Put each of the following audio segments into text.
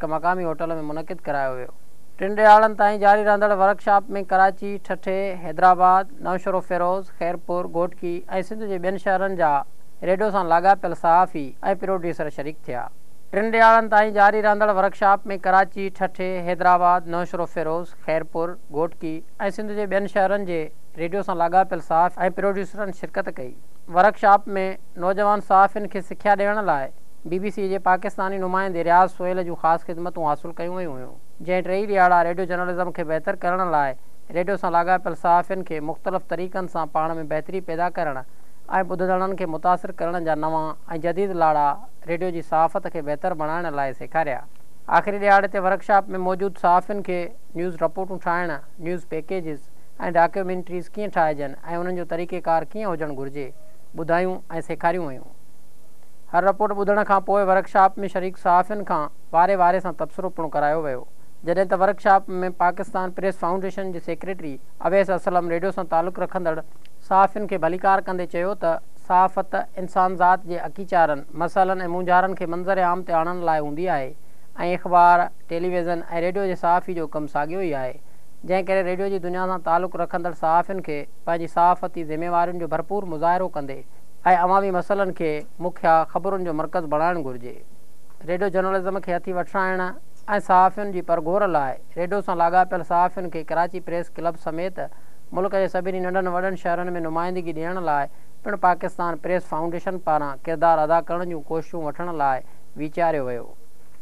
هڪ مقامي هوٽل ۾ منعقد ڪرايو ويو. ٽن ڏهاڙن تائين جاري رهندڙ ورڪشاپ ۾ ڪراچي، ٺٽي، حيدرآباد، نوشهروفيروز، خيرپور، گهوٽڪي ۽ سنڌ جي ٻين شهرن جا ريڊيو سان لاڳاپيل صحافي ۽ پروڊيوسر شريڪ ٿيا. ٽن ڏهاڙن تائين جاري رهندڙ ورڪشاپ ۾ ڪراچي، ٺٽي، حيدرآباد، نوشهروفيروز، خيرپور، گهوٽڪي ۽ سنڌ جي ٻين شهرن جي ريڊيو سان لاڳاپيل صحافي ۽ پروڊيوسرن شرڪت ڪئي. ورڪشاپ ۾ نوجوان صحافين کي سکيا ڏيڻ لاء بي بي سي جي پاڪستاني نمائندي رياض سهيل جون خاص خدمتون حاصل ڪيون ويون هيون، جنهن ٽيئي ڏياڙا ريڊيو جرنلزم کي بهتر ڪرڻ لاء ريڊيو سان لاڳاپيل صحافين کي مختلف طريقن سان پاڻ ۾ بهتري پيدا ڪرڻ ۽ ٻڌندڙن کي متاثر ڪرڻ جا نوان ۽ جديد لاڙا ريڊيو جي صحافت کي بهتر بڻائڻ لاء سيکاريا. آخري ڏيهاڙي تي ورڪشاپ ۾ موجود صحافين کي نيوز رپورٽون ٺاهڻ، نيوز پيڪيجز ۽ ڊاڪيومينٽريز ڪيئن ٺاهجن ۽ انهن جو طريقيڪار ڪيئن هجڻ گهرجي، ٻڌايون ۽ سيکاريون ويون. هر رپورٽ ٻڌڻ کان پوء ورڪشاپ ۾ شريڪ صحافين کان واري واري سان تبصرو پڻ ڪرايو ويو جڏهن ته ورڪشاپ ۾ پاڪستان پريس فائونڊيشن جي سيڪريٽري اويس اسلم ريڊيو سان تعلق رکندڙ صحافين کي ڀليڪار ڪندي چيو ته صحافت انسانذات جي اڪيچارن، مسئلن ۽ مونجهارن کي منظر عام تي آڻڻ لاء هوندي آهي ۽ اخبار، ٽيلي ويزن ۽ ريڊيو جي صحافي جو ڪم ساڳيو ئي آهي جنهن ڪري ريڊيو جي دنيا سان تعلق رکندڙ صحافين کي پنهنجي صحافتي ذميوارين جو ڀرپور مظاهرو ڪندي ۽ عوامي مسئلن کي مکيه خبرن جو مرڪز بڻائڻ گهرجي. ريڊيو جرنلزم کي هٿي وٺرائڻ ۽ صحافين جي پرگهور لاء ريڊيو سان لاڳاپيل صحافين کي ڪراچي پريس ڪلب سميت ملڪ جي سڀني ننڍن وڏن شهرن ۾ نمائندگي ڏيڻ لاء پڻ پاڪستان پريس فائونڊيشن پاران ڪردار ادا ڪرڻ جون ڪوششون وٺڻ لاء ويچاريو ويو.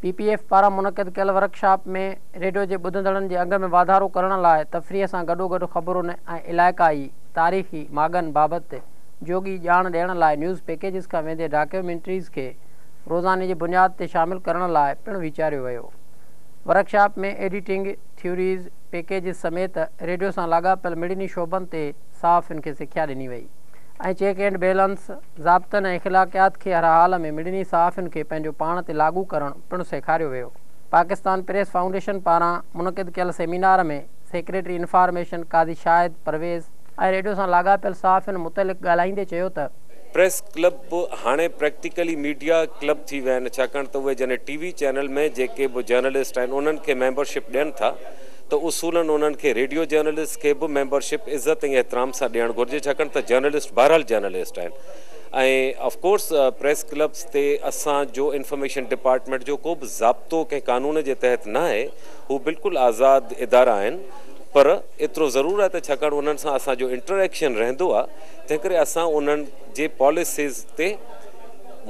پي پي ايف پاران منعقد ڪيل ورڪشاپ ۾ ريڊيو جي ٻڌندڙن جي انگ ۾ واڌارو ڪرڻ لاء تفريح سان گڏوگڏ خبرن ۽ علائقائي تاريخي ماڳن بابت جوڳي ڄاڻ ڏيڻ لاء نيوز پيڪيجز کان ويندي ڊاڪيومينٽريز کي روزاني جي بنياد تي شامل ڪرڻ لاء پڻ ويچاريو ويو. ورڪشاپ ۾ ايڊيٽنگ، ٿيوريز، پيڪيجز سميت ريڊيو سان لاڳاپيل مڙني شعبن تي صحافين کي سکيا ڏني وئي ۽ چيڪ اينڊ بيلنس، ضابطن ۽ اخلاقيات کي هر حال ۾ مڙني صحافين کي پنهنجو پاڻ تي لاڳو ڪرڻ پڻ سيکاريو ويو. پاڪستان پريس فائونڊيشن پاران منعقد ڪيل seminar ۾ secretary information Qazi Shahid Pervez, آء ريڊيو سان لاڳاپيل صحافين متعلق ڳالهائيندي چيو ته. پريس ڪلب به هاڻي پريڪٽيڪلي ميڊيا ڪلب ٿي ويا آهن ڇاڪاڻ ته اهي جڏهن ٽي وي چينل ۾ جيڪي به جرنلسٽ آهن انهن کي ميمبر شپ ڏين ٿا ته اصولاً انهن کي ريڊيو جرنلسٽ کي به ميمبر شپ عزت ۽ احترام سان ڏيڻ گهرجي ڇاڪاڻ ته جرنلسٽ بهرحال جرنلسٽ آهن ۽ آف ڪورس پريس ڪلبس تي اسان جو انفارميشن ڊپارٽمينٽ جو ڪو به ضابطو ڪنهن قانون جي تحت ناهي هو بلڪل آزاد ادارا آهن. پر ايترو ضرور آهي ته ڇاڪاڻ انهن سان اسان جو انٽريڪشن رهندو آهي تنهنڪري اسان انهن جي پاليسيز تي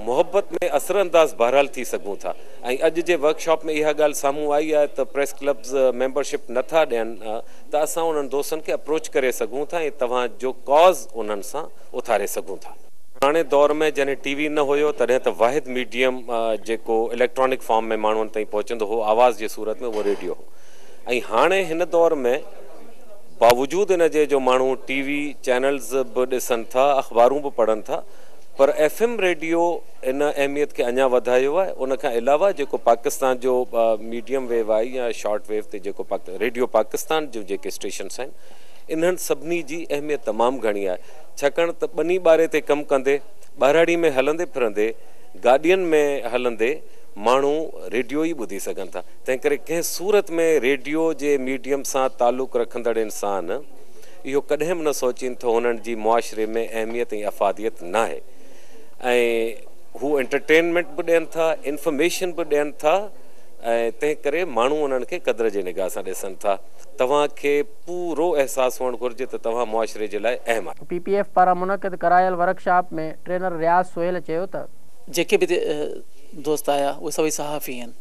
محبت ۾ اثرانداز بهرحال ٿي سگهون ٿا ۽ اڄ جي ورڪشاپ ۾ اها ڳالهه سامهون آئي آهي ته پريس ڪلبز ميمبرشپ نٿا ڏين ته اسان انهن دوستن کي اپروچ ڪري سگهون ٿا ۽ توهان جو ڪاز انهن سان اٿاري سگهون ٿا. پراڻي دور ۾ جڏهن ٽي وي نه هيو تڏهن ته واحد ميڊيم جيڪو اليڪٽرانڪ فارم ۾ ماڻهن تائين پهچندو هو آواز جي صورت ۾ اهو ريڊيو هو. ۽ هاڻي هن دور ۾ باوجود ان جي جو ماڻهو ٽي وي چينلز به ڏسن ٿا، اخبارون به پڙهن ٿا پر ايف ايم ريڊيو ان اهميت کي اڃا وڌايو آهي. ان کان علاوه جيڪو پاڪستان جو ميڊيم ويو آهي يا شارٽ ويو تي جيڪو ريڊيو پاڪستان جون جيڪي اسٽيشنس آهن انهن سڀني جي اهميت تمام گهڻي آهي ڇاڪاڻ ته ٻني ٻاري تي ڪم ڪندي، ٻهراڙي ۾ هلندي ڦرندي، گاڏين ۾ هلندي ماڻهو ريڊيو ئي ٻڌي سگهن ٿا. تنهنڪري ڪنهن صورت ۾ ريڊيو جي ميڊيم سان تعلق رکندڙ انسان اهو ڪڏهن به نه سوچين ٿو هنن جي معاشري ۾ اهميت ۽ افاديت ناهي ۽ هو انٽرٽينمينٽ به ڏين ٿا انفارميشن به ڏين ٿا ۽ تنهن ڪري ماڻهو انهن کي قدر جي نگاهه سان ڏسن ٿا توهان کي پورو احساس هئڻ گهرجي ته توهان معاشري جي لاء اهم آهيو. پي پي ايف پاران منعقد ڪرايل ورڪشاپ ۾ ٽرينر رياض سهيل چيو ته. جيڪي به دوست آيا اهي سڀئي صحافي آهن.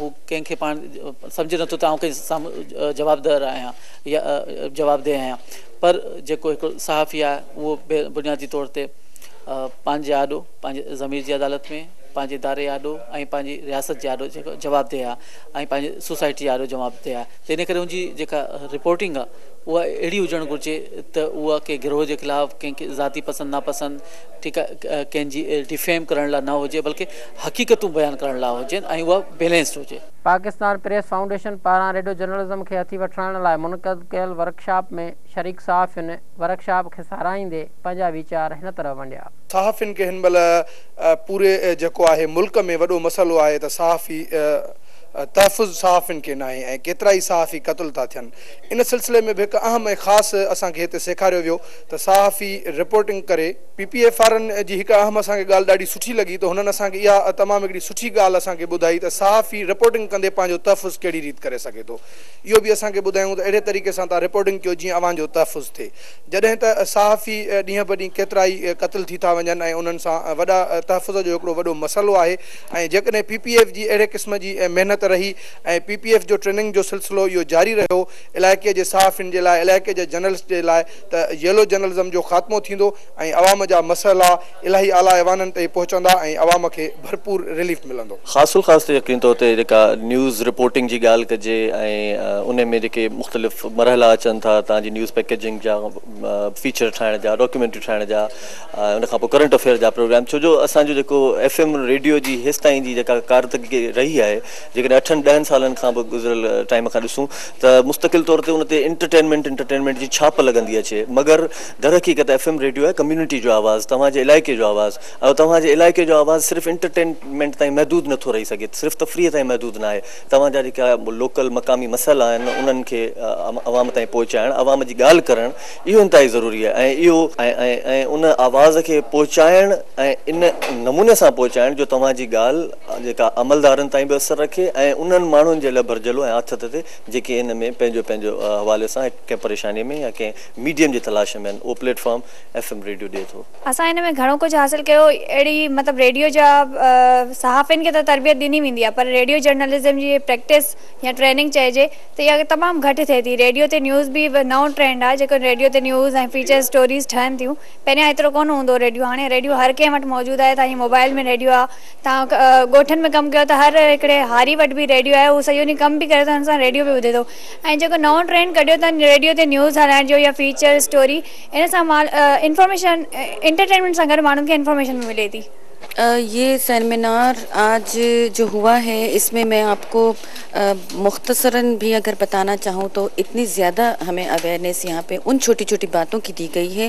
هو ڪنهن کي پاڻ سمجهي نٿو ته آئون ڪنهن سامهون جوابدهه آهيان يا جوابدهه آهيان پر جيڪو هڪ صحافي آهي اهو بي بنيادي طور تي پنهنجي آڏو پنهنجي ضمير جي عدالت ۾ پنهنجي اداري جي آڏو ۽ پنهنجي رياست جي آڏو جيڪو جوابدهه آهي ۽ پنهنجي سوسائٽي جي آڏو جوابدهه آهي ته ان ڪري هنجي جيڪا رپورٽنگ آهي اها اهڙي هجڻ گهرجي ته اها ڪنهن گروهه جي خلاف ڪنهن کي ذاتي پسند ناپسند ٺيڪ آهي ڪنهنجي ڊفيم ڪرڻ لاء نه هجي بلڪه حقيقتون بيان ڪرڻ لاء هجين ۽ اها بيلنسڊ هجي. پاڪستان پريس فائونڊيشن پاران ريڊيو جرنلزم کي هٿي وٺرائڻ لاء منعقد ڪيل ورڪشاپ ۾ شريڪ صحافين ورڪشاپ کي ساراهيندي پنهنجا ويچار هن طرح ونڊيا. صحافين کي هن مهل پوري جيڪو آهي ملڪ ۾ وڏو مسئلو آهي ته صحافي تحفظ صحافين کي ناهي ۽ ڪيترائي صحافي قتل ٿا ٿين ان سلسلي ۾ به هڪ اهم ۽ خاص اسان کي هتي سيکاريو ويو ته صحافي رپورٽنگ ڪري پي پي ايف وارن جي هڪ اهم اسان کي ڳالهه ڏاڍي سٺي لڳي ته هنن اسان کي اها تمام هڪڙي سٺي ڳالهه اسان کي ٻڌائي ته صحافي رپورٽنگ ڪندي پنهنجو تحفظ ڪهڙي ريت ڪري سگهي ٿو اهو به اسان کي ٻڌايون ته اهڙي طريقي سان توهان رپورٽنگ ڪيو جيئن اوهان جو تحفظ ٿئي جڏهن ته صحافي ڏينهن به ڏينهن ڪيترا ئي قتل ٿي ٿا وڃن ۽ انهن سان وڏا تحفظ جو هڪڙو وڏو مسئلو آهي ۽ جيڪڏهن پي پي ايف جي اهڙي قسم جي محنت رهي ۽ پي پي ايف جو ٽريننگ جو سلسلو اهو جاري رهيو علائقي جي صحافين جي لاء علائقي جي جرنلسٽ جي لاء ته ييلو جرنلزم جو خاتمو ٿيندو ۽ عوام جا مسئلا الاهي اعليٰ ايوانن تائين پهچندا ۽ عوام کي ڀرپور رليف ملندو. خاص الخاص ته يقيني طور تي جيڪا نيوز رپورٽنگ جي ڳالهه ڪجي ۽ ان ۾ جيڪي مختلف مرحلا اچن ٿا تان جي نيوز پيڪيجنگ جا فيچر ٺاهڻ جا ڊاڪيومينٽري ٺاهڻ جا ۽ ان کانپوء ڪرنٽ افيئر جا پروگرام ڇو جو اسان جو جيڪو ايف ايم ريڊيو جي هيستائين جي جيڪا ڪارتڪي رهي آهي جيڪڏهن اٺن ڏهن سالن کان به گذريل ٽائيم کان ڏسون ته مستقل طور تي ان تي انٽرٽينمينٽ انٽرٽينمينٽ جي ڇاپ لڳندي اچي مگر درحقيقت ايف ايم ريڊيو آهي ڪميونٽي جو آواز توهان جي علائقي جو آواز ۽ توهان جي علائقي جو آواز صرف انٽرٽينمينٽ تائين محدود نٿو رهي سگهي صرف تفريح تائين محدود ناهي توهان جا جيڪا لوڪل مقامي مسئلا آهن انهن کي عوام تائين پهچائڻ عوام جي ڳالهه ڪرڻ اهو انتهائي ضروري آهي ۽ اهو ۽ ان آواز کي پهچائڻ ۽ ان نموني سان پهچائڻ جو توهان جي ڳالهه جيڪا عملدارن تائين به اثر رکي ۽ انهن ماڻهن جي لاء ڀرجهلو ۽ آٿت تي جيڪي ان ۾ پنهنجو پنهنجو حوالي سان ڪنهن پريشاني ۾ يا ڪنهن ميڊيم جي تلاش ۾ آهن اهو platform F M radio ڏئي ٿو. اسان ان ۾ گهڻو ڪجهه حاصل ڪيو اهڙي مطلب ريڊيو جا صحافين کي ته تربيت ڏني ويندي آهي پر ريڊيو جرنلزم جي پريڪٽس يا ٽريننگ چئجي ته اها تمام گهٽ ٿئي ٿي ريڊيو تي نيوز به نئون ٽرينڊ آهي جيڪو ريڊيو تي نيوز ۽ فيچر اسٽوريز ٺهن ٿيون پهريان ايترو ڪونه هوندو هو ريڊيو هاڻي ريڊيو هر ڪنهن وٽ موجود آهي تهائين موبائل ۾ ريڊيو آهي تان ڳوٺن ۾ ڪم ڪيو ته هر هڪڙي هاري وٽ به ريڊيو آهي هو سڄو ڏينهن ڪم به ڪري ٿو هن سان ريڊيو به ٻڌي ٿو ۽ جيڪو نئون ٽرينڊ ڪڍيو تن ريڊيو تي نيوز هلائڻ جو يا فيچر اسٽوري ان سان مال انفارميشن انٽرٽينمينٽ سان گڏ ماڻهن کي انفارميشن به ملي ٿي. يي سيمينار آج جو هوا هي اس مين مين آپ ڪو مختصرا بهي اگر بتانا چاهون تو اتني زياده همين اويرنيس يهان پي ان ڇوٽي ڇوٽي باتون ڪي دي گئي هي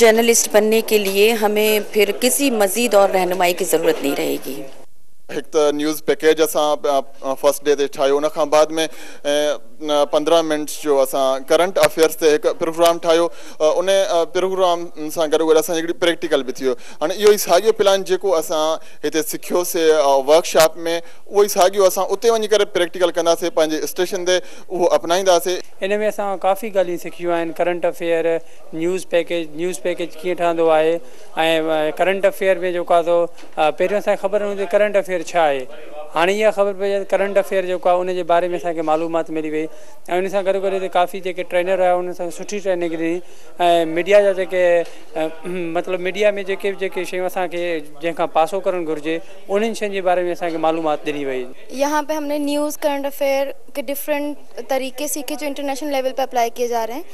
جرنلسٽ بنني ڪي ليي همين پھر ڪسي مزيد اور رهنمائي ڪي ضرورت نهين رهي گي. هڪ ته نيوز پيڪيج اسان فرسٽ ڊي تي ٺاهيو ان کان بعد ۾ پندرهن منٽس جو اسان ڪرنٽ افيئرس تي هڪ پروگرام ٺاهيو ان پروگرام سان گڏو گڏ اسان جي هڪڙي پريڪٽيڪل به ٿي ويو هاڻي اهو ئي ساڳيو پلان جيڪو اسان هتي سکيو سي ورڪ شاپ ۾ اهو ئي ساڳيو اسان اتي وڃي ڪري پريڪٽيڪل ڪندا سي پنهنجي اسٽيشن تي اهو اپنائيندا سي. ان ۾ اسان ڪافي ڳالهيون سکيون آهن current affair. News package, news package ڪيئن ٺهندو آهي ۽ ڪرنٽ افيئر ۾ جيڪو آهي سو پهريون اسان کي خبر نه هوندي ڪرنٽ افيئر ڇا آهي هاڻي اها خبر پئي آهي ڪرنٽ افيئر جيڪو آهي ان جي باري ۾ اسان کي معلومات ملي وئي ۽ ان سان گڏو گڏ هتي ڪافي جيڪي ٽرينر هيا انهن سان سٺي ٽريننگ ڏني ۽ ميڊيا جا جيڪي مطلب ميڊيا ۾ جيڪي به جيڪي شيون اسانکي جنهن کان پاسو ڪرڻ گهرجي انهن شين جي باري ۾ اسان کي معلومات ڏني وئي. يهان پي همني نيوز ڪرنٽ افيئر ڪي ڊفرنٽ طريقي سيکي جو انٽرنيشنل ليول پي اپلائي ڪئي جا رهي هين.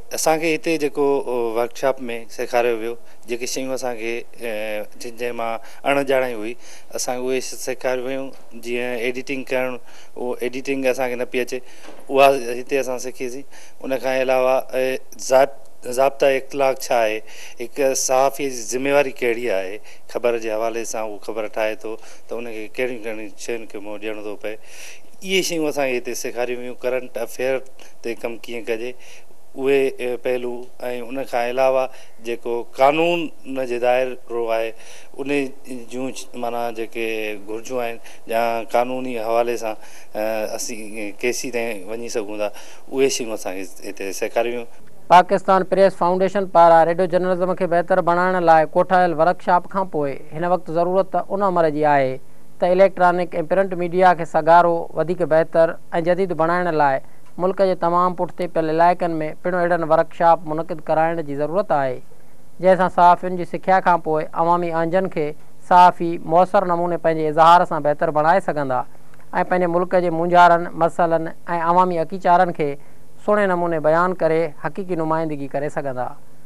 اسان کي هتي جيڪو ورڪ شاپ ۾ سيکاريو ويو جيڪي شيون اسان کي جن جنهن مان اڻ ڄاڻائي هئي اسان کي اهي سيکاريو ويون جيئن ايڊيٽنگ ڪرڻ اهو ايڊيٽنگ اسان کي نه پئي اچي اها هتي اسان سکيسين ان کان علاوه ضائب ضابطا اخلاق ڇا آهي هڪ صحافي جي ذميواري ڪهڙي آهي خبر جي حوالي سان هو خبر ٺاهي ٿو ته ان کي ڪهڙيون ڪهڙيون شين کي منهن ڏيڻو ٿو پئي اهي شيون اسان کي هتي سيکاريون ويون ڪرنٽ افيئر تي ڪم ڪيئن ڪجي اهي پهلو ۽ ان کان علاوه جيڪو قانون جي دائرو آهي ان جون معنيٰ جيڪي گهرجون آهن جا قانوني حوالي سان اسين ڪيسي تائين وڃي سگهون ٿا اهي شيون اسان کي هتي سيکاريون ويون. پاڪستان پريس فائونڊيشن پاران ريڊيو جرنلزم کي بهتر بڻائڻ لاء ڪوٺايل ورڪ شاپ کان پوء هن وقت ضرورت ته ان امر جي آهي ته اليڪٽرانڪ ۽ پرنٽ ميڊيا کي سگهارو، وڌيڪ بهتر ۽ جديد بڻائڻ لاء ملڪ جي تمام پٺتي پيل علائقن ۾ پڻ اهڙن ورڪشاپ منعقد ڪرائڻ جي ضرورت آهي، جنهن سان صحافين جي سکيا کان پوء عوامي اهنجن کي صحافي موثر نموني پنهنجي اظهار سان بهتر بڻائي سگهندا ۽ پنهنجي ملڪ جي مونجهارن، مسئلن ۽ عوامي اڪيچارن کي سهڻي نموني بيان ڪري حقيقي نمائندگي ڪري سگهندا.